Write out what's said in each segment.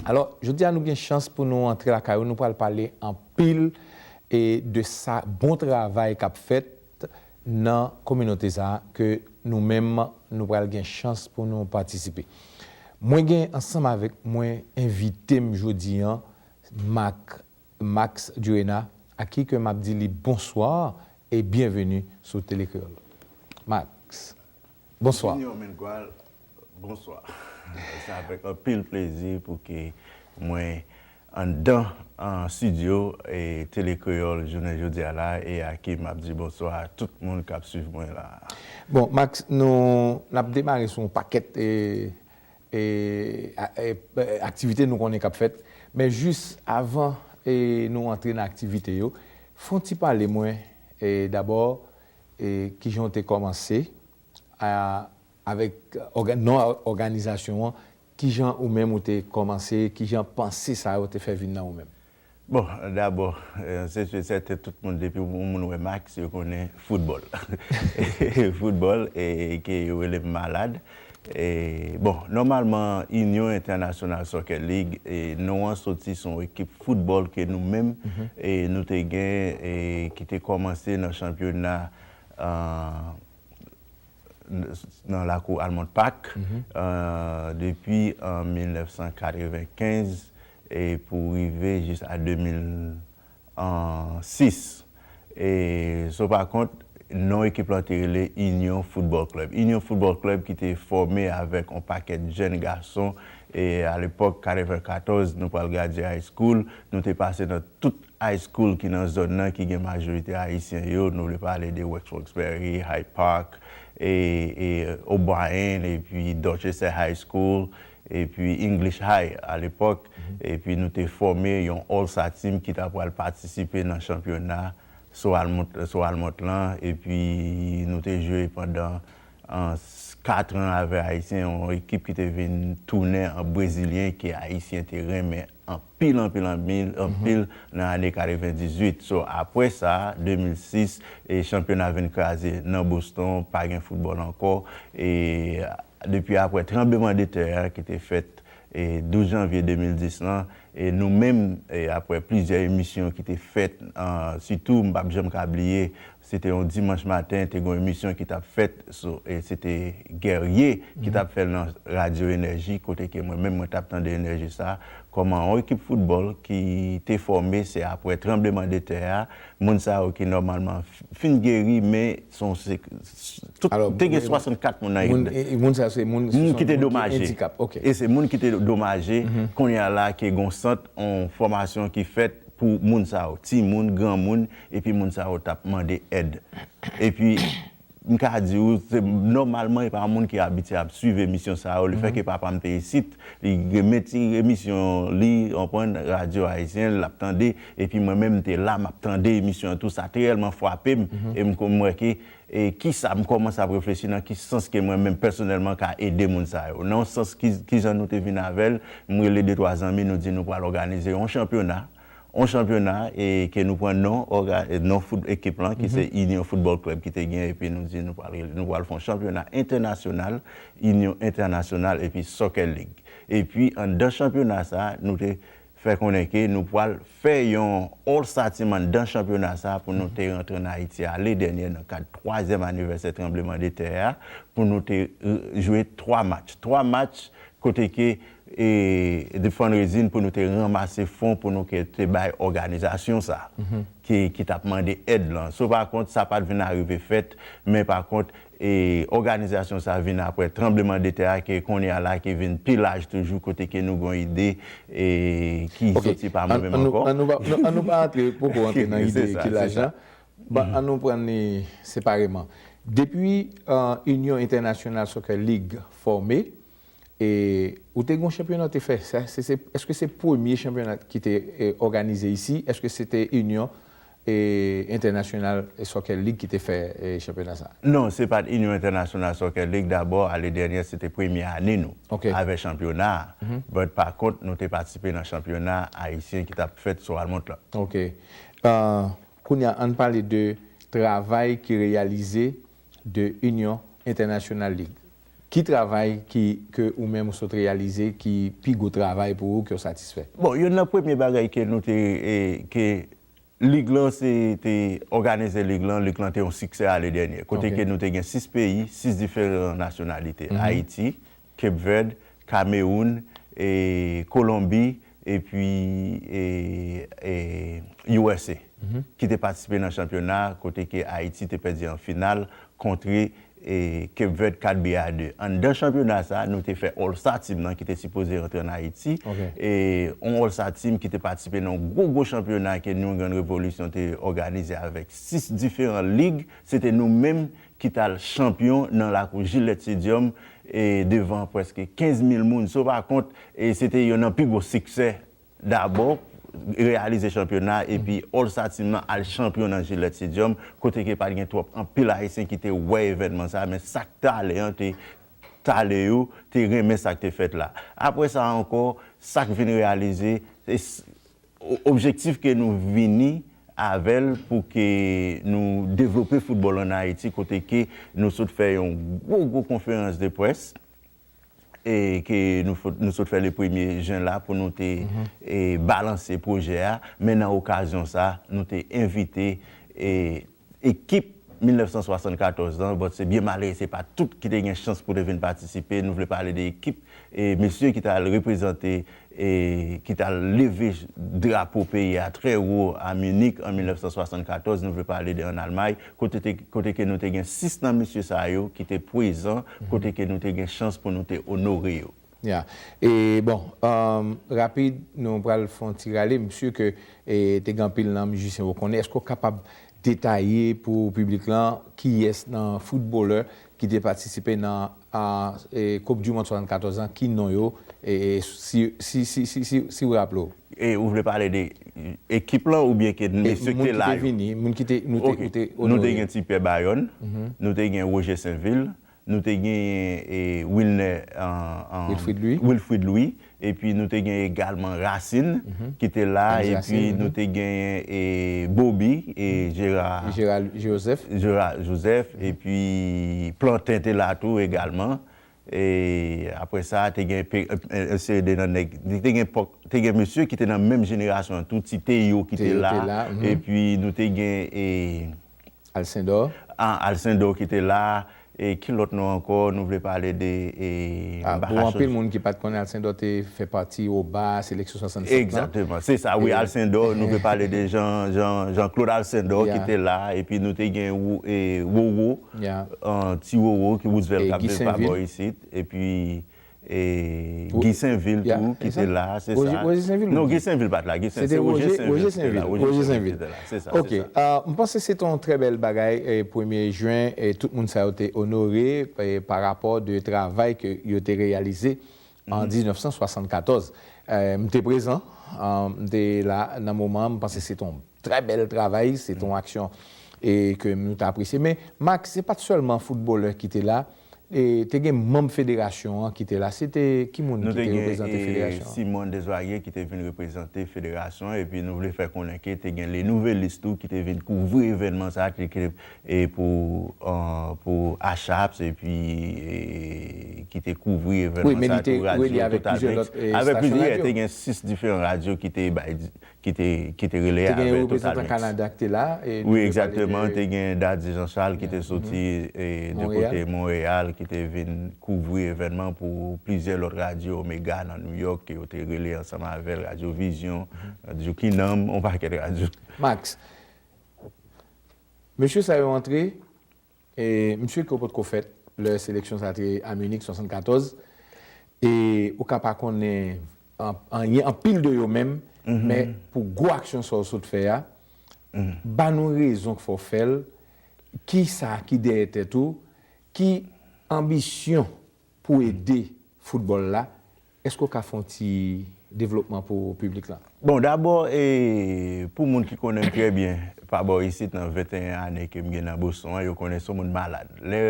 Alò, jodi a nou gen chans pou nou antre lakay ou, nou pral pale anpil e de sa bon travay kap fèt nan kominote sa a ke nou menm nou pral gen chans pou nou patisipe. Mwen gen ansanm avèk mwen envite m jodi an Marc Max Durena ak ki ke m ap di li bonswa e byenveni sou Tele Kreyòl. Max. Bonswa. Junior Mengual, Bonswa. Se avèk anpil plezi pou ke mwen anndan stidyo Tele Kreyòl jounen jodi a la e a ke m ap di bonswa a tout moun k ap suiv mwen la a. Bon, Max, nou, n ap demare sou yon pakèt aktivite nou konnen k ap fèt. Men jis avan nou antre nan aktivite yo, fè yon ti pale mwen dabò, E kijan w te kòmanse? A, Avèk òga, non òganizasyon an, kijan ou menm ou te kòmanse? Kijan panse sa yo te fè vin nan ou menm? Bon, dabò, se si e sèten tout moun depi yon moun wè Max yo konnen foutbòl. Foutbòl e ke yo rele m malad. Bon, nòmalman Union International Soccer League, non an soti sou yon ekip foutbòl ke nou menm nou te gen ki te kòmanse nan chanpyona nan lakou Almond Park depi an 1995 pou rive jis a 2000 6. E sa w pa kont, non ekip lan te rele Union Football Club. Union Football Club ki te fòme avèk on pakèt jèn gason e a lepòk 94 nou pral gradye high school, nou te pase nan tout high school ki nan zòn nan ki gen majorite Ayisyen yo, nou vle pale de West Roxbury, Hyde Park, e O'Brien epi Dorchester High School epi English High a lepòk, epi nou te fòme yon All-Star Team ki ta pral patisipe nan chanpyona Sou Almonte lan, epi nou te jwe pandan 4 an avè Ayisyen, yon ekip ki te vin tounen an Brezilyen ke Ayisyen te renmen. anpil anpil anpil anpil nan ane 98 so apwè sa 2006 e chanpyona vin kraze nan Boston pa gen foutbòl ankò e depi apwè tranbleman de tè a ki te fèt e 12 janvye 2010 lan e nou menm e apwè plizyè emisyon ki te fèt an sitou m pap janm ka bliye Se te yon dimanch maten, te gen yon emisyon ki t ap fèt sou, e se te Guerrier ki t ap fè l nan radyo Enèji kote ke mwen menm mwen t ap tande enèji sa, kòman yon ekip foutbòl ki te fòme se aprè tranbleman de tè a, moun sa yo ki nòmalman fin geri men son se tout te gen 64 moun nan ekip la. Moun sa yo se moun ki te domaje. E se moun ki te domaje kounye a la ke gen yon sant yon fòmasyon ki fèt pou moun sa yo, timoun, granmoun. Epi moun sa yo tap mande èd. Epi m ka di ou se nòmalman e pa moun ki abitye ap swiv emisyon sa yo. Le fè ke papa m te isit, li renmen ti emisyon li, ou konprann, radyo ayisyen, l ap tande. Epi mwen menm m te la, m ap tande emisyon an tou. Sa te reyèlman frape m. E m konn m wè ke e ki sa m kòmanse ap reflechi nan ki sans ke mwen menm pèsonèlman ka ede moun sa yo. Nan yon sans ki ki jan nou te vin avè l, m rele de twa zanmi nou di nou pral òganize yon chanpyona. On chanpyona e ke nou pran non òga, non fout ekip lan ki se Union Football Club ki te gen epi nou di nou pral rele, nou pral fè on chanpyona entènasyonal, Union International epi Soccer League. Epi anndan chanpyona sa a nou te fè konnen ke nou pral fè yon All Star Team anndan chanpyona sa a pou nou te rantre an Ayiti ale dènyè nan kad twazyèm anivèsè tranbleman de tè a pou nou te jwe twa match. Twa match kote ke The Fundraising pou nou te ranmase fon pou nou te bay òganizasyon sa ki t ap mande èd lan. Sou pa kont, sa pa t vin arive fèt, men pa kont, òganizasyon sa vin apre tranbleman de tè a ke kounye a la ki vin pi laj toujou kote ke nou gen yon ide ki soti pa mwen menm ankò. An nou pa antre, poko antre nan ide ki laj la. An nou pran li separeman. Depi Union International Soccer League fòme, E ou te gen yon chanpyona ou te fè, èske se premye chanpyona ki te òganize isi? Èske se te Inyon Entènasyonal Sokè Lig ki te fè chanpyona sa? Non, se pa t Inyon Entènasyonal Sokè Lig. Dabò, ane dènyè se te premye ane nou avè chanpyona a. But pa kont, nou te patisipe nan chanpyona ayisyen ki t ap fèt sou Almont lan. Ok. Kounye a, an n pale de travay ki reyalize de Union International League. Ki travay ki ke ou menm ou sot reyalize ki pi gwo travay pou ou ke w satisfè? Bon, youn nan premye bagay ke nou te e ke Lig lan se te òganize Lig lan, Lig lan te yon siksè ane dènyè. Kote ke nou te gen 6 peyi, 6 diferan nasyonalite, Ayiti, Cape Verde, Cameroun, Colombie epi usa ki te patisipe nan chanpyona a kote ke Ayiti te pèdi an final kontre Cape Verde 4 bi a 2. Anndan chanpyona sa a nou te fè All Star Team nan ki te sipoze rantre an Ayiti, yon All Star Team ki te patisipe nan yon gwo gwo chanpyona ke New England Revolution te òganize avèk 6 diferan lig, se te nou menm ki t al chanpyon nan lakou Gillette Stadium devan prèske 15 mil moun so pa kont se te yon nan pi gwo siksè dabò reyalize chanpyona epi All Star Team lan al chanpyon nan Gillette Stadium kote ke pat gen twòp anpil ayisyen ki te wè evènman sa men sa k t ale an te t ale yo te renmen sa k te fèt la apre sa ankò sa k vin reyalize se Objektif ke nou vini avè l pou ke nou devlope foutbòl an Ayiti kote ke nou sot fè yon gwo gwo konferans de près e ke nou sot fè le premye jen la pou nou te balanse pwojè a men nan okazyon sa nou te envite Ekip 1974 lan, bon se byen malere se pa tout ki te gen chans pou te vin patisipe, nou vle pale de ekip e mesye ki t al reprezante e ki t al leve drapo peyi a trè wo a Munich an 1974, nou vle pale de an Almay kote te kote ke nou te gen 6 nan mesye sa yo ki te pwezan kote ke nou te gen chans pou nou te onore yo. Ya e bon rapid nou pral fon ti rale m su ke te gen anpil nan mizisyen ou konnen eske ou kapab detaye pou piblik lan kiyès nan foutbolè ki te patisipe nan koup du mond 74 lan ki non yo si ou raple ou. E ou vle pale de ekip lan oubyen ke mesye ki te la yo? Moun ki te vini, moun ki te onore. Nou te gen Ti Pè Bayòn, nou te gen Roger Sainvil, nou te genyen Wilner Wilfrid Louis epi nou te genyen egalman Racine ki te la epi nou te genyen Bobi Gérard Joseph epi Plantin te la tou egalman e apre sa te gen yon seri de nan nèg te gen mesye ki te nan menm jenerasyon an tou ti Théo ki te la epi nou te gen Alcindor. Ah Alcindor ki te la e ki lòt non ankò nou vle pale de ah bon anpil moun ki pat konnen Alcindor te fè pati oba seleksyon 67 lan. Egzateman se sa wi Alcindor nou vle pale de Jean Jean Jean Claude Alcindor ki te la epi nou te gen Rou e Roro ti Roro ki Roosevelt kap viv pa bò isit epi E Guy Sainvil tou ki te la, se sa? Roger Sainvil ou Guy? Non, Guy Sainvil pa te la. Se te Roger Sainvil ki te la. Roger Sainvil. Se sa. Ok. M panse se te yon trè bèl bagay premye jen e tout moun sa yo te onore pa rapò de travay ke yo te reyalize an 1974. M te prezan, m te la nan moman an. M panse se te yon Trè bèl travay, se te yon aksyon ke nou te apresye. Men, Max, se pa te sèlman foutbolè ki te la, te gen manm federasyon an ki te la. Se te ki moun ki te reprezante federasyon an? Nou te gen Simon Desvarieux ki te vin reprezante federasyon an, epi nou vle fè konnen ke te gen Le Nouvelliste tou ki te vin kouvri evènman sa a, e pou Achaps, epi ki te kouvri evènman sa a tou, radyo, tout avèk. Avèk plizyè, te gen 6 diferan radyo ki te bay, ki te ki te rele avè total mix. Te gen yon reprezantan Kanada ki te la. Wi egzakteman te gen Dady Jean Charles ki te soti de kote Monreyal ki te vin kouvri evènman pou plizyè lòt radyo Omega nan New York ke yo te rele ansanm avè l Radyo Vizyon, Radyo Kinanm, yon pakèt radyo. Max, mesye sa yo antre. E m sur ke ou potko fèt lè seleksyon sa te a Munich 74 e ou ka pa konnen anyen anpil de yo menm men pou gwo aksyon sa ou sot fè a ba nou rezon k fè w fè l kisa ki dèyè tèt ou ki anbisyon Pou ede foutbòl la, èske w ka fè yon ti devlopman pou piblik lan? Bon, dabò, pou moun ki konnen m trè byen pa bò isit nan 21 ane ke m gen nan Boston an, yo konnen son moun malad. Lè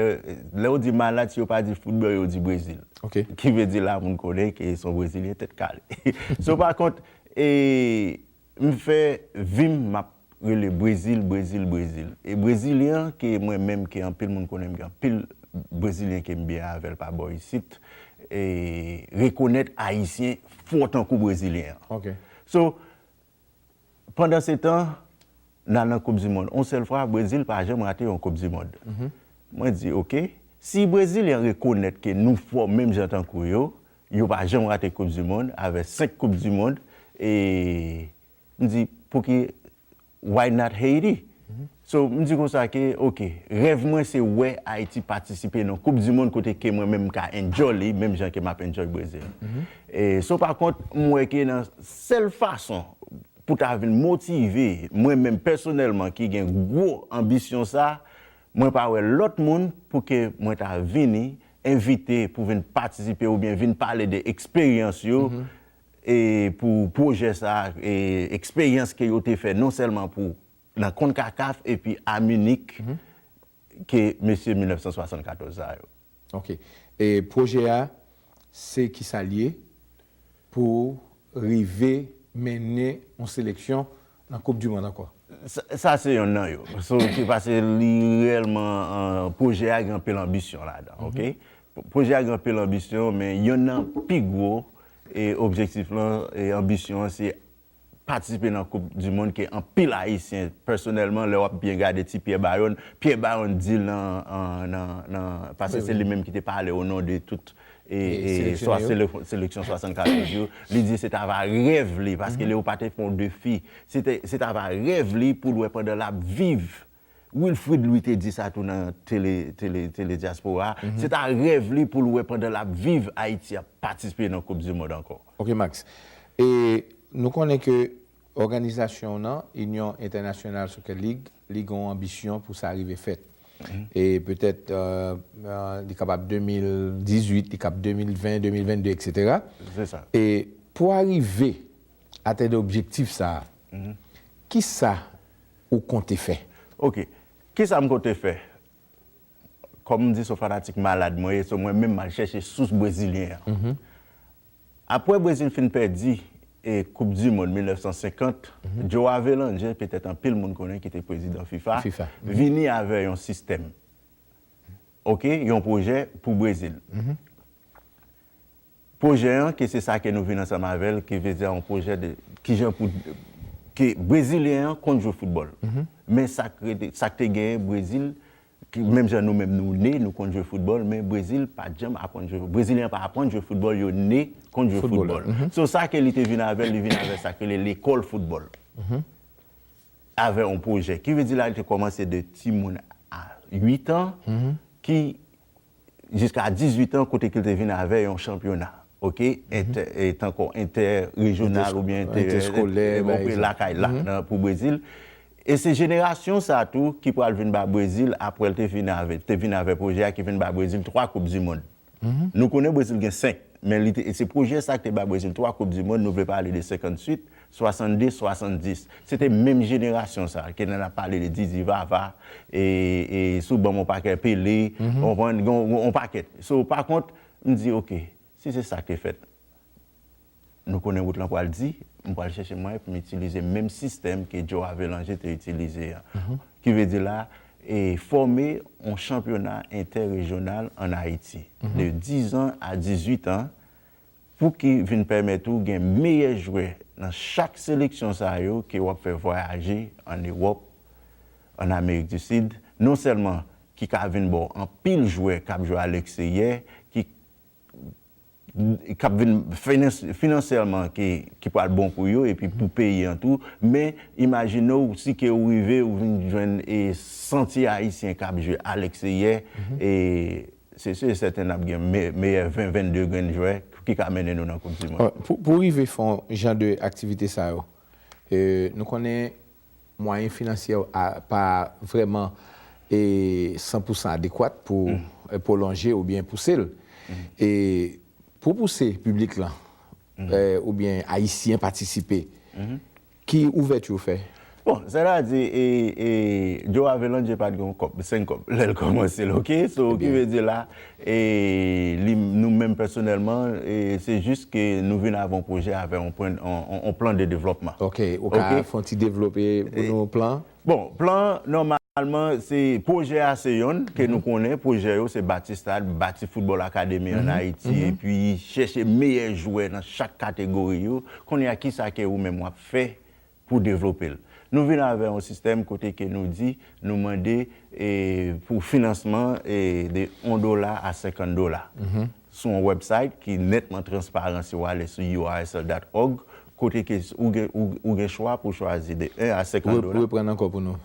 yo di malad, si yo pa di foutbòl, yo di Brezil. Ki vle di la moun konnen ke son Brezilyen tèt kale. So pa kont, M fè vim map rele brezil brezil brezil e brezilyen ke mwen menm ke anpil moun konnen m gen anpil brezilyen kem byen avèl pa bò isit e rekonèt ayisyen fò tankou brezilyen so pandan se tan nan nan koup di mond on sèl fwa brezil pa janm rate yon koup di mond mwen di ok si brezilyen rekonèt ke nou fò menm jan tankou yo Yo pa janm rate koup du mond avè 5 koup du mond e m di pouki why not Haiti so m di konsa ke ok rèv mwen se wè Haiti patisipe nan koup du mond kote ke mwen menm m ka enjoy li menm jan ke map enjoy Brazil e so pa kont m wè ke nan sèl fason pou ta vin motive mwen menm pèsonèlman ki gen gwo anbisyon sa. Mwen pa wè lòt moun pou ke mwen ta vini envite pou vin patisipe ou byen vin pale de eksperyans yo e pou pwojè sa a e eksperyans ke yo te fè non sèlman pou nan Concacaf epi a Munich ke mesye 1974 sa yo. Ok e pwojè a se kisa l ye pou rive mennen yon seleksyon nan koup du mond ankò? Sa se yonn nan yo. Ok pase li reyèlman pwojè a gen anpil anbisyon ladan ok. Pwojè a gen anpil anbisyon men yonn nan pi gwo objektif lan e anbisyon an se patisipe nan koup di mond ke anpil ayisyen pèsonèlman lè wap byen gade ti Pierre Bayon, Pierre Bayon di nan paske se li menm ki te pale o non de tout seleksyon 64 ans yo, li di se ta va rèv li paske Léopards te fè yon defi, se ta va rèv li poul wè pandan lap viv Wilfrid Louis te di sa tou nan tele tele tele dyaspora a, se ta rèv li pou l wè pandan l ap viv Ayiti ap patisipe nan koup di mond ankò. Ok Max, e nou konnen ke òganizasyon w nan, Union Internationale Soccer League, li gen yon anbisyon pou sa rive fèt. E petèt li kapab 2018, li kab 2020, 2022 eksetera. Se sa. E pou arive atenn objektif sa a, kisa ou konte fè? Ok, kisa m konte fè? Kòm m di se yon fanatik malad mwen ye, so mwen menm m al chèche sous brezilyen an. Apre Brezil fin pèdi koup di mond 1950, Joe Avelange, petèt anpil moun konnen ki te prezidan fifa, vini avè yon sistèm, ok, yon pwojè pou Brezil. Pwojè an ke se sa ke nou vin ansanm avè l, ke vle di a yon pwojè de kijan pou ke brezilyen an konn jwe foutbòl. Men sa k rete, sa k te genyen Brezil, ki menm jan nou menm nou ne, nou konn jwe foutbòl, men Brezil pa t janm aprann jwe foutbòl. Brezilyen yo pa aprann jwe foutbòl, yo ne konn jwe foutbòl. So sa ke li te vin avè l, li vin avè sa k rele lekòl foutbòl. Avè yon pwojè. Ki vle di la li te kòmanse de timoun a 8 an, ki jiska 18 an kote ke l te vin avè yon chanpyona ok tankou entè rejyonal ou byen entè eskolè lakay la pou Brezil e se jenerasyon sa tou ki pral vin ba Brezil aprè l te vin avè te vin avè pwojè a ki vin ba Brezil 3 koup di mond nou konnen Brezil gen 5 men li te se pwojè sa ki te ba Brezil 3 koup di mond nou vle pale de 58 62 70 se te menm jenerasyon sa ke nan ap pale de didi vava e sou banm on pakè pele ou konprann gen on pakèt so pa kont m di ok si se sak te fèt nou konnen wout lan pral di m pral chèche mwayen pou m itilize menm sistèm ke djo avelanje te itilize an ki vle di la e fòme on chanpyona entè rejyonal an ayiti de 10 an a 18 an pou ki vin pèmèt ou gen meyè jwè nan chak seleksyon sa yo ke wap fè vwayaje an Ewòp, an Amerik di Sid, non sèlman ki ka vin ba w anpil jwè kap jwe alèkseyè ki kap vin finansyèlman ki pwal bon pou yo epi pou peyi an tou, men imajine w si ke ou rive ou vin jwenn 100 ti ayisyen kap jwe alèkseyè e. Se sur et certain nap gen meyè 20, 22 grenn jwè ki ka mennen nou nan koup du mond. Pou rive fè yon jan de aktivite sa yo, nou konnen mwayen finansyè w pa vrèman 100 pou 100 adekwat pou pwolonje oubyen pouse l. E pou pouse piblik lan oubyen ayisyen patisipe, Ki ouvèti ou fè? Bon sètadi e e Joe Avelange pat gen yon kòb, 5 kòb lèl kòmansel ok so ki vle di la e li nou menm pèsonèlman e se jis ke nou vin avè yon pwojè avè yon pwen yon plan de devlòpman. Ok ou ka fon ti devlope pou nou plan? Bon, plan an nòmalman se pwojè a se yonn ke nou konnen, pwojè yo se bati stad, bati foutbòl akademi an Ayiti epi chèche meyè jwè nan chak kategori yo. Kounye a kisa ke ou menm wap fè pou devlope l? Nou vin avè yon sistèm kote ke nou di nou mande pou finansman de 1 dola a 50 dola. Sou yon wèbsayt ki nètman transparan si w ale sou URSL dat òg, kote ke ou gen chwa pou chwazi de 1 a 50 dola. Reprann ankò pou nou,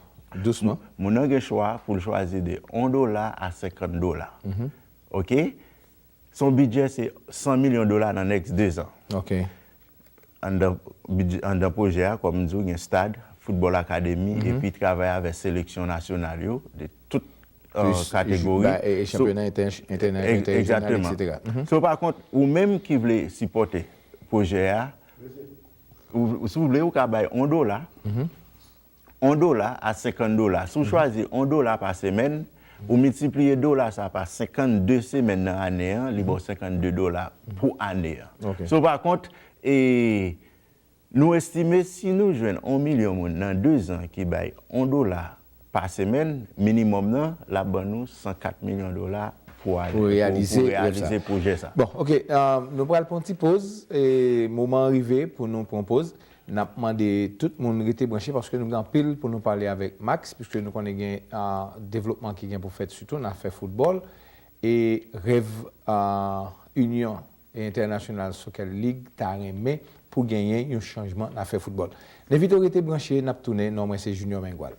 dousman. Moun nan gen chwa pou l chwazi de 1 dola a 50 dola. Ok? Son bidjè se 100 milyon dola nan next 2 zan. Ok. Anndan pwojè a, kòm m di w, gen stad, foutbòl akademi epi travay avè seleksyon nasyonal yo de tout kategori. E chanpyona entènasyonal, eksetera. So pa kont, ou menm ki vle sipòte pwojè a, si w vle ou ka bay yon dola. 1 dola a 50 dola. Si w chwazi 1 dola pa semèn, ou miltipliye dola sa pa 52 semèn nan ane an, li ba w 52 dola pou ane an. So pa kont, e nou estime si nou jwenn 1 milyon moun nan 2 zan ki bay 1 dola pa semèn, minimòm nan, l ap ban nou 104 milyon dola pou reyalize pwojè sa. Bon, ok, nou pral pran yon ti poz, moman an rive pou nou pran poz. Nap mande tout moun rete branche paske nou gen anpil pou nou pale avèk Max puiske nou konnen gen devlopman ki gen pou fèt sitou nan afè foutbòl e rèv Union International Soccer League ta renmen pou genyen yon chanjman nan afè foutbòl. Nevito rete branche nap tounen non mwen se Junior Mengual.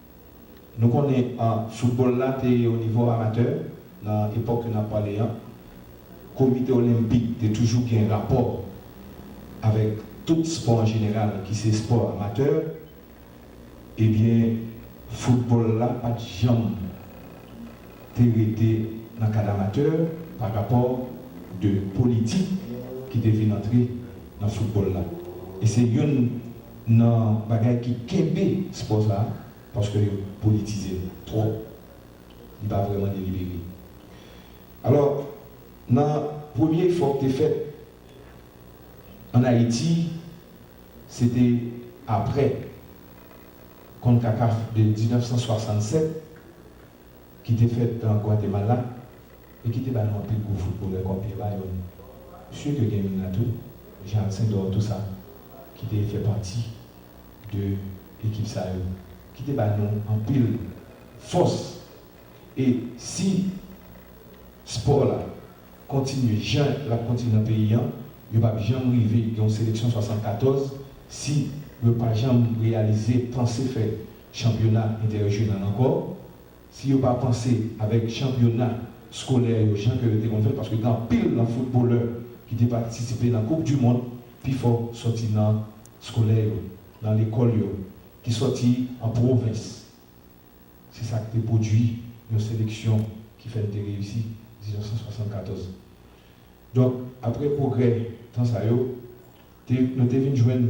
Nou konnen foutbòl la te o nivo amatè nan epòk ke n ap pale an. Komite Olenpik te toujou gen rapò avèk tout spò an jeneral ki se spò amatè. Ebyen, foutbòl la pa t janm te rete nan kad amatè pa rapò de politik ki te vin antre nan foutbòl la. E se youn. nan bagay ki kenbe spò sa a paske yo politize l twòp, li pa vrèman delibere. Alò, nan premye efò k te fèt ann Ayiti, se te apre Concacaf de 1967, ki te fèt an Gwatemala e ki te ba nou anpil gwo foutbolè kòm Pierre Bayonne, msye ke gen youn la tou, Jean Alcindor Toussaint, ki te fè pati de ekip sa yo, ki te ba nou anpil fòs. E si spò la kontinye jan l ap kontinye nan peyi an, yo p ap janm rive gen yon seleksyon 74 si yo pa janm reyalize, panse fè chanpyona entèrejyonal ankò, si yo pa panse avèk chanpyona skolè yo jan ke yo te konn fè l, paske gen anpil nan foutbolè ki te patisipe nan koup di mond, pifò sòti nan skolè yo, nan lekòl yo, ki sòti an pwovens. Se sa k te pwodui yon seleksyon ki fè n te reyisi 1974. Donk, aprè pwogrè tan sa yo, te nou te vin jwenn.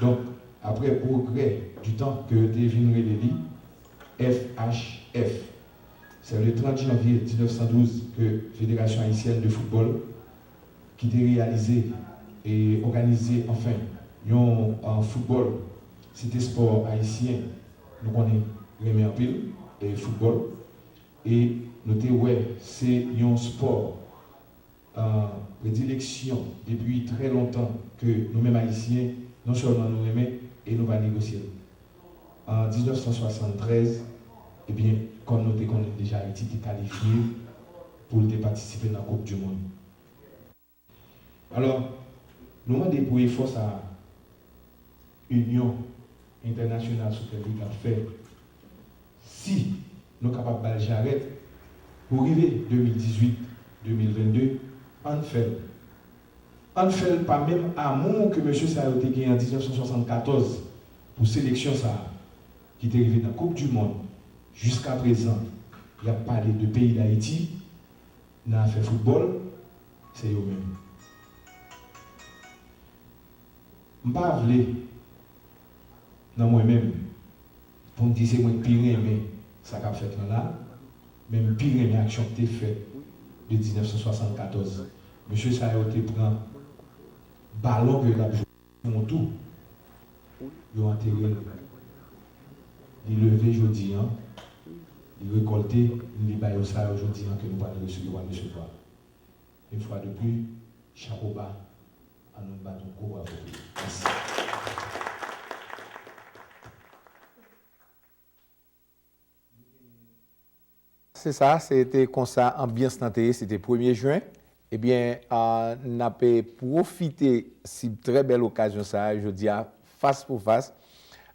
Donk, apre pwogrè di tan ke yo te vin rele li FHF. Se le 30 janvye 1912 ke Federasyon Ayisyèn de Foutbòl ki te reyalize e òganize anfen yon foutbòl, se te spò Ayisyen nou konnen renmen anpil, foutbòl, e nou te wè se yon spò. predileksyon depi trè lontan ke nou menm Ayisyen non sèlman nou renmen e nou va negosye l. An 1973, ebyen, kòm nou te konnen l deja Ayiti te kalifye pou l te patisipe nan koup dimond. Alò, nou mande pou efò sa a inyon entènasyonal Super League ap fè Si nou kapab ba l jarèt pou rive 2018, 2022, an n fè l. An n fè l pa menm amou ke mesye sa yo te gen an 1974 pou seleksyon sa a ki te rive nan koup du mond. Jiskaprezan y ap pale de peyi Dayiti nan afè foutbòl, se yo menm. M pa vle nan mwen menm. Pou m di se mwen k pi renmen sa k ap fèt lan la, men m pi renmen aksyon k te fèt de 1974. Mesye sa yo te pran balon ke yo t ap jwe pou yon tou, yo antere l. Li leve jodi an, li rekòlte, li ba yo sa yo jodi an ke nou pral resevwa. Une fois de plus, chapo ba. An nou bat yon gwo bravo pou li. Mèsi. Se sa, se te konsa anbyans lan te ye, se te premye jen. Ebyen, n ap pwofite sib trè bèl okazyon sa a jodi a, fas pou fas.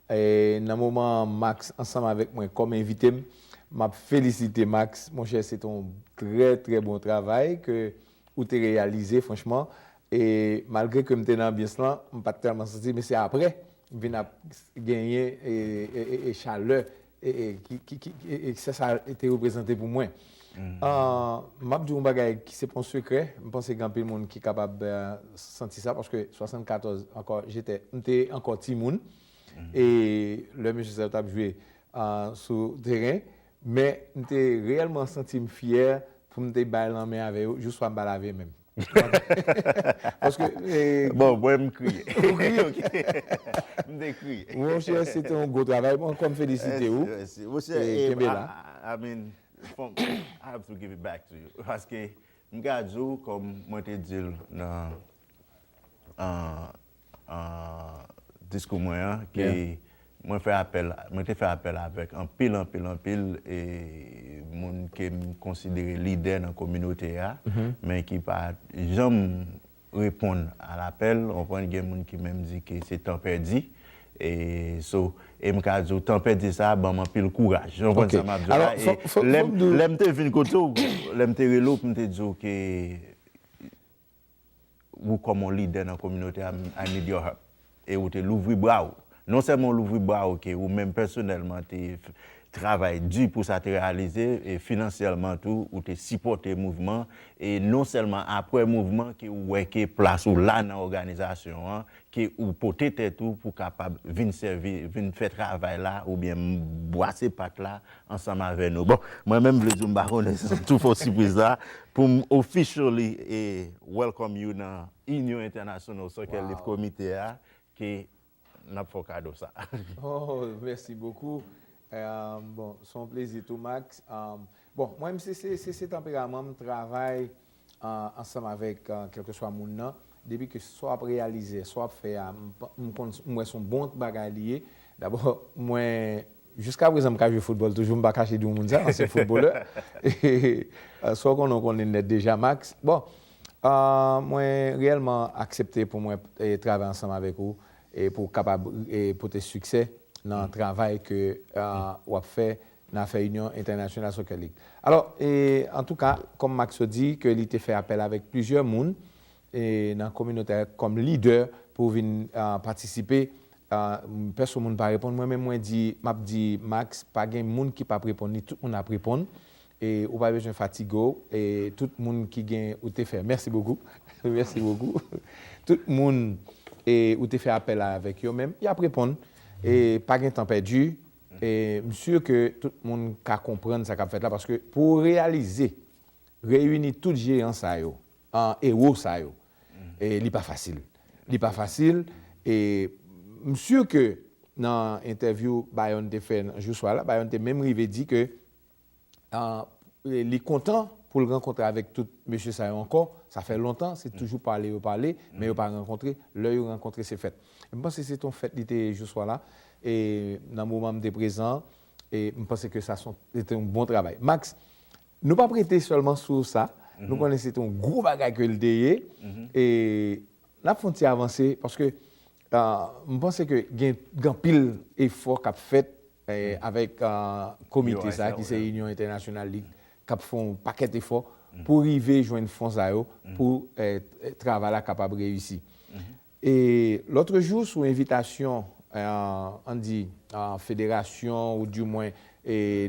Nan moman an, Max ansanm avèk mwen kòm envite m, m ap felisite Max. Monchè, se te yon trè trè bon travay ke ou te reyalize franchman e malgre ke m te nan anbyans lan m pat tèlman santi men se aprè m vin ap genyen e chalè e se sa te reprezante pou mwen m ap di w yon bagay ki se pa yon sekrè m panse gen anpil moun ki kapab santi sa paske 74 ankò jetè m te ankò timoun e lè mesye sa yo t ap jwe sou teren Men, m te reyèlman santi m fyè pou m te bay lanmen avè yo jouswa m pa lave menm. Paske. Bon, mwen m kriye. Ou kriye? Ok. M te kriye. Monchè, se te yon gwo travay. Mwen ankò m felisite ou. Mèsi, mèsi. E kenbe la. I mean, fòk I have to give it back to you. Paske, m ka di w, kòm mwen te di l nan diskou mwen an ke mwen fè apèl, mwen te fè apèl avèk anpil, anpil, anpil moun ke m konsidere lidè nan kominote a, men ki pa janm reponn a lapèl, ou konprann, gen moun ki menm di ke se tan pèdi, e so, e m ka di w tan pèdi sa a ban m anpil kouraj, ou konprann sa m ap di w la, e lè m te vin kote w, lè m te rele w pou m te di w ke. ou kòm yon lidè nan kominote a, I need your help. E ou te louvri bra ou. Non sèlman ou louvri bra ou ke ou menm pèsonèlman te travay di pou sa te reyalize, e finansyèlman tou ou te sipòte mouvman, e non sèlman apre mouvman ke ou wè ke plas ou la nan òganizasyon an, ke ou pote tèt ou pou kapab vin sèvi, vin fè travay la oubyen bwase pat la ansanm avè nou. Bon, mwen menm vle di w m pa konnen si m tou fè w sipriz la, pou m officially welcome you nan Union International Soccer League Committee a, ke n ap fè w kado sa a. Oh, mèsi bokou. Bon, s on plezi tou Max. Bon, mwen m se se tanperaman m travay ansanm avèk kèlkeswa moun nan, depi ke sa w ap reyalize, sa w ap fè a, m konn, m wè se yon bon bagay li ye. Dabò, mwen, jiska prezan m ka jwe foutbòl toujou, m pa kache di w moun sa, ansyen foutbolè. Sa w konnen w konnen nèt deja, Max. Bon, mwen reyèlman aksepte pou mwen travay ansanm avèk ou e pou w kapab pote siksè nan travay ke w ap fè. nan afè Union International Soccer League. Alò, e, antouka, kòm Maxo di ke li te fè apèl avèk plizyè moun, e, nan kominote a kòm lidè pou vin, a, patisipe, a, pèso moun pa reponn, mwen menm mwen di, m ap di Max, pa gen moun ki p ap reponn li, tout moun ap reponn, e, ou pa bezwen fatige w, e, tout moun ki gen, ou te fè, mèsi bokou, mèsi bokou, tout moun, e, ou te fè apèl la avèk yo menm, y ap reponn, e, pa gen tan pèdi, E m sur ke tout moun ka konprann sa k ap fèt la paske pou w reyalize reyini tout jeyan sa yo an ewo sa yo li pa fasil. Li pa fasil e m sur ke nan entèvyou Bayon te fè nan jou swa la Bayon te menm rive di ke li kontan pou l rankontre avèk tout mesye sa yo ankò, sa fè lontan, se toujou pale yo pale, men yo pa rankontre, lè yo rankontre se fèt. E m panse se te yon fèt li te ye jou swa la, e nan moman m te prezan, e m panse ke sa son, se te yon bon travay. Max, nou p ap rete sèlman sou sa, nou konnen se te yon gwo bagay ke l te ye, e n ap fè yon ti avanse, paske m panse ke gen anpil efò k ap fèt avèk komite sa ki se Inyon Entènasyonal Lit k ap fè yon pakèt efò pou rive jwenn fon sa yo pou travay la kapab reyisi. E lòtrejou sou envitasyon an di federasyon ou di mwen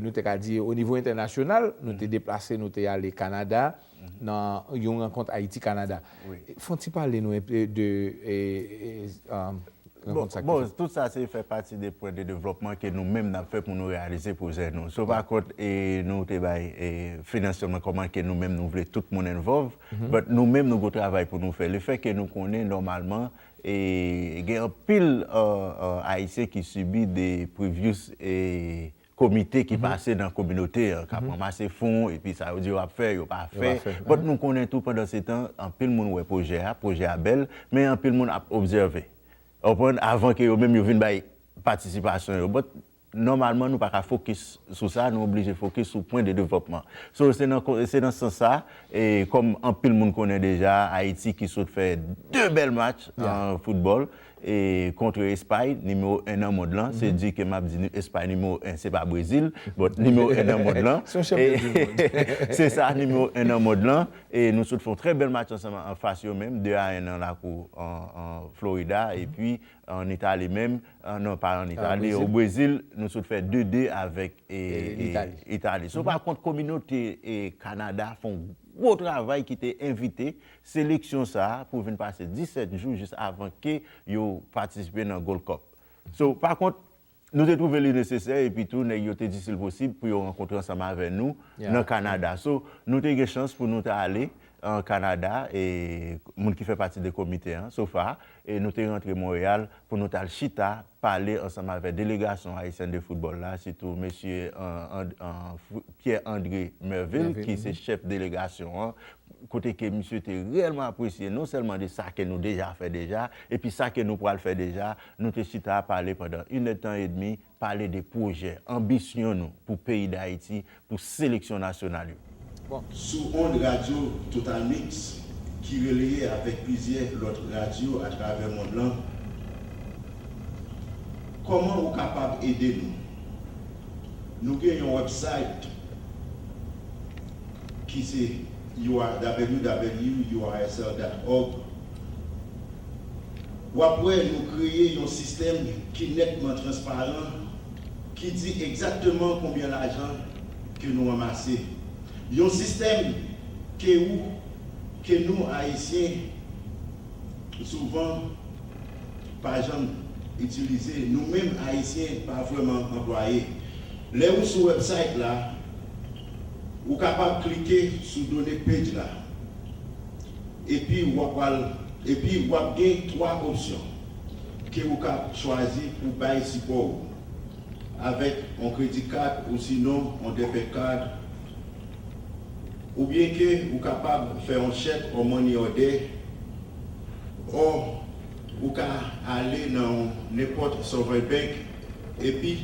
nou te ka di onivo entènasyonal nou te deplase nou te ale Kanada, nan yon rankont Ayiti-Kanada. Fon ti pale nou enpe de rankont sa ki fèt. Bon, tout sa se fè pati de pwen de devlòpman ke nou menm nap fè pou nou reyalize pwojè nou. So pa kont nou te bay finansman kòman ke nou menm nou vle tout moun envòv, but nou menm nou gwo travay pou nou fè. Le fè ke nou konnen nòmalman gen anpil Ayisyen ki sibi de previous komite ki pase nan kominote an, k ap ranmase fon, epi sa yo di yo ap fè, yo pa fè. But nou konnen tou pandansetan, anpil moun wè pwojè a, pwojè a bèl, men anpil moun ap obsève. Ou konprann? Avan ke yo menm yo vin bay patisipasyon yo. But nòmalman nou pa ka fokis sou sa, nou oblije fokis sou pwen de devlòpman. So, se nan se nan sans sa, e kòm anpil moun konnen deja, Ayiti ki sot fè 2 bèl match an foutbòl, e kontre espay nimewo 1 nan mond lan se di ke map di nou espay nimewo 1 se pa brezil but nimewo 1 nan mond lan se sa nimewo 1 nan mond lan e nou sot fè yon trè bèl match ansanm an fas yo menm 2 a 1 nan lakou florida epi an itali menm non pa an itali o brezil nou sot fè 2 2 avèk itali so pa kont kominote kanada fè yon gwo travay ki te envite seleksyon sa pou vin pase 17 jou jis avan ke yo patisipe nan Gold Cup. So, pa kont, nou te twouve li nesesè epi tou nèg yo te di si l posib pou yo rankontre ansanm avè nou nan Kanada. So, nou te gen chans pou nou ta ale an Kanada e moun ki fè pati de komite an, sofa, e nou te rantre Montréal pou nou t al chita pale ansanm avè delegasyon Ayisyen de foutbòl la, sitou mesye Pierre André Mervil ki se chèf delegasyon an, kote ke misye te reyèlman apresye non sèlman de sa ke nou deja fè deja, epi sa ke nou pral fè deja, nou te chita pale pandan inèdtan edmi, pale de pwojè, anbisyon nou pou peyi Dayiti, pou seleksyon nasyonal yo. Sou ond radyo Totalmix ki releye avèk plizyè lòt radyo atravè mond lan, Kòman ou kapab ede nou? Nou gen yon wèbsayt ki se www.ursl.org. W ap wè nou kreye yon sistèm ki nètman transparan ki di egzakteman konbyen lajan ke nou ranmase. Yon sistèm ke ou ke nou Ayisyen souvan pa janm itilize. Nou menm Ayisyen pa vrèman anplwaye. Lè ou sou website la, ou kapab klike sou done page la Epi wa pral epi wap gen 3 opsyon ke ou ka chwazi pou bay sipò ou avèk on kredi kad ou sinon on debet card oubyen ke ou kapab fè on chèk or money order or ou ka ale nan on nenpòt Sovereign Bank epi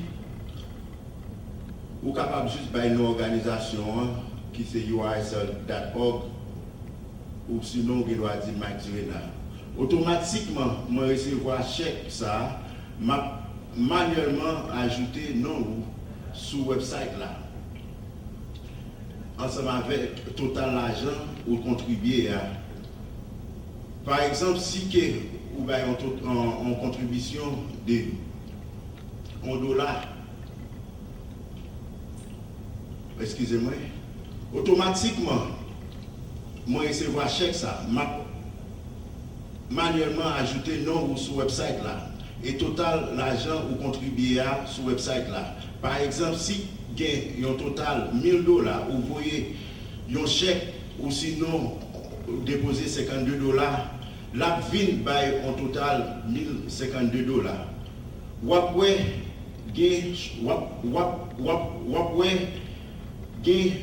ou kapab jis bay non òganizasyon an ki se ursl dat org. Oksinon ou gen dwa di Mike Zrena otomatikman mwen resevwa chèk sa a, m ap manyèlman ajoute non ou sou website la ansanm avèk total lajan ou kontribye a. Pa egzanp si ke ou bay yon kontribisyon de yon dola, eskize mwen, otomatikman. Mwen resevwa chèk sa, m ap manyèlman ajoute non ou sou wèbsayt la e total lajan ou kontribye a sou wèbsayt la. Pa egzanp, si gen yon total 1000 dola, ou voye yon chèk ousinon ou depoze 52 dola, l ap vin bay yon total 1052 dola. W ap wè gen w ap w ap w ap w ap wè. gen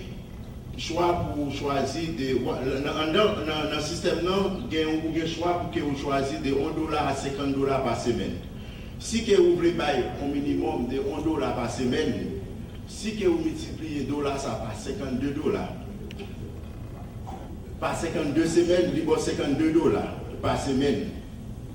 chwa pou ou chwazi de nan sistèm nan gen ou gen chwa pou ke ou chwazi de 1 dola a 50 dola pa semèn si ke ou vle bay on minimòm de 1 dola pa semèn si ke ou miltipliye dola sa pa 52 dola pa 52 semèn li ba w 52 dola pa semèn.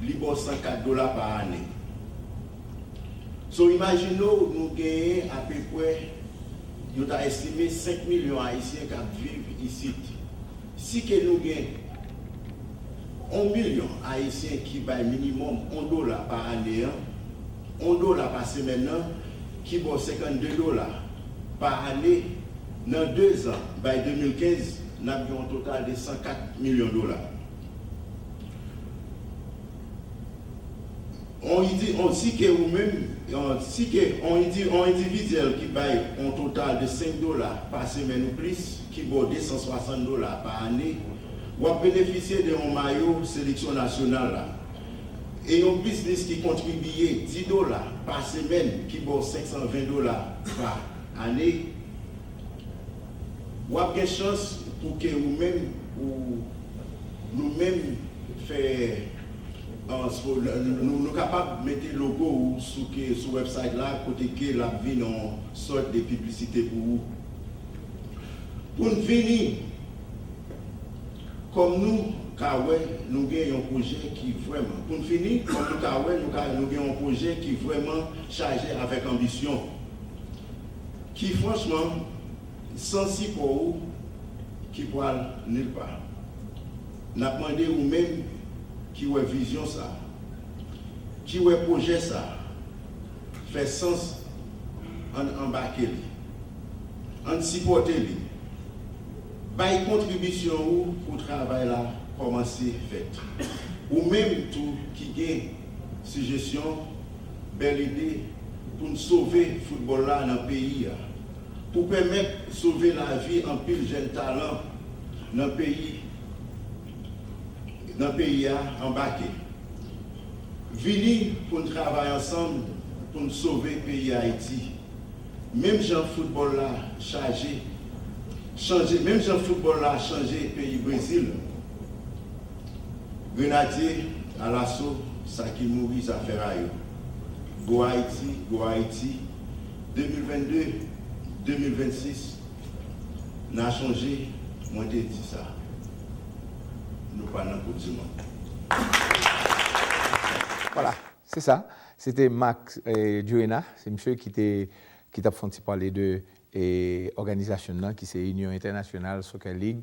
Li ba w 104 dola pa ane. So imajine w nou genyen apepwè, yo ta estime 5 milyon ayisyen k ap viv isit. Si ke nou gen 1 milyon ayisyen ki bay minimòm 1 dola pa ane an, 1 dola pa semèn nan ki ba w 52 dola pa ane, nan dezan, bay 2015, n ap gen yon total de 104 milyon dola. Si ke ou menm, si ke yon endividyèl ki bay yon total de 5 dola pa semèn ou plis ki ba w 260 dola pa ane, w ap benefisye de yon mayo seleksyon nasyonal la. E yon biznis ki kontribiye 10 dola pa semèn ki ba w 520 dola pa ane, Wap gen chans pou ke ou menm ou nou menm fè nou kapab mete logo ou sou website la kote ke lap vin on sort de piblisite pou ou. Poun fini, kòm nou ka wè nou gen yon pwojè ki vrèman poun fini, kòm nou ka wè nou gen yon pwojè ki vrèman chaje avèk anbisyon. ki franchman san sipò ou ki pwal nil pa. Nap mande ou menm ki wè vizyon sa, ki wè pwojè sa fè sans ann anbake li, ann sipòte li, bay kontribisyon ou pou travay la kòmanse fèt. Ou menm tou ki gen sijesyon. bèl ide pou n sove foutbòl la nan peyi a, pou pèmèt sove lavi anpil jèn talan nan peyi nan peyi a anbake. Vini pou n travay ansanm pou n sove peyi Ayiti. Menm jan foutbòl la chaje chanje menm jan foutbòl la chanje peyi Brezil. Grenadye alaso sa ki mouri zafè ra yo Go Haïti Go Haïti 2022 2026 Na chonje mwen te di sa Nou pa nan koup di mond. Se sa, se te Marc Durena, se misye ki te ki t ap fè yon ti pale de òganizasyon nan ki se Union Internationale Soccer League.